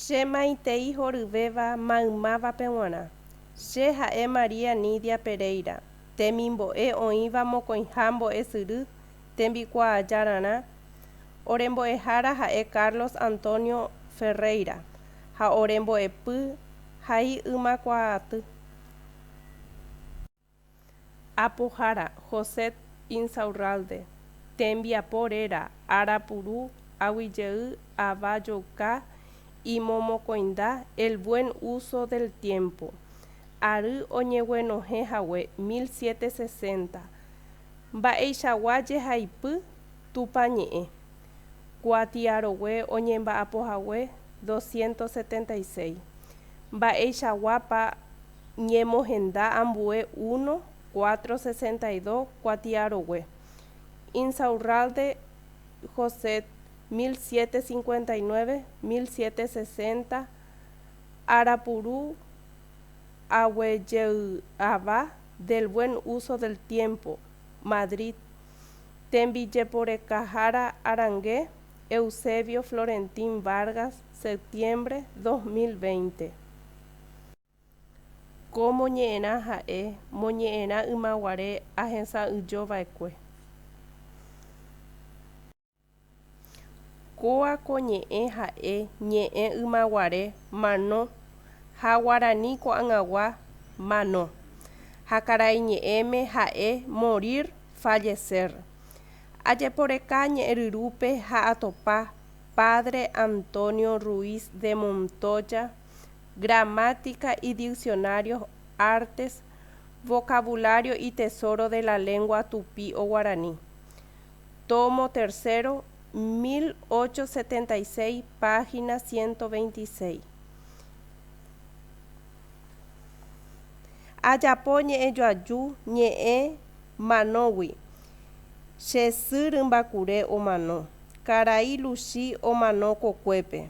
Che maitei horyvéva maymávape g̃uarã. Che ha'e María Nidia Pereira, temimbo'e oĩva Mokõiha Mbo'esyry tembikuaajárarã, ore mbo'ehára ha'e Carlos Antonio Ferreira ha ore mbo'epy ha'ei ymakuaaty. Apohára, José Insaurralde, tembiapo réra, ára puru, aguijey, ava jouka, imomokõinda, El buen uso del tiempo. Ary oñeguenohẽ hague 1760. Mba'eichagua jehaipy Tupã ñe'ẽ. Kuatiarogue oñemba'apo hague 276. Mba'eichaguápa ñemohenda ambue uno, cuatro, sesenta y dos kuatiarogue, Insaurralde, Josette, mil siete cincuenta y nueve, mil siete sesenta, Arapuru aguejey'ava del buen uso del tiempo, Madrid, Tembijeporekahára Arangue, Eusebio Florentín Vargas, Septiembre, dos mil veinte. Ko moñe'ẽrã ha'e moñe'ẽrã ymaguare ahesa'ỹijo vaekue. Kóa ko ñe'ẽ ha'e ñe'ẽ ymaguare mano ha guarani ko'ag̃agua mano, ha karai ñe'ẽme ha'e morir, fallecer. Ajeporeka ñe'ẽryrúpe ha atopa Padre Antonio Ruiz de Montoya, Gramática y diccionarios Artes Vocabulario y tesoro de la lengua tupí o guaraní, tomo tercero, 1876, página 126. Ajapo ñe'ẽjoaju ñe'ẽ manógui, che sy rymbakure omano, karai Luchi omano kokuépe.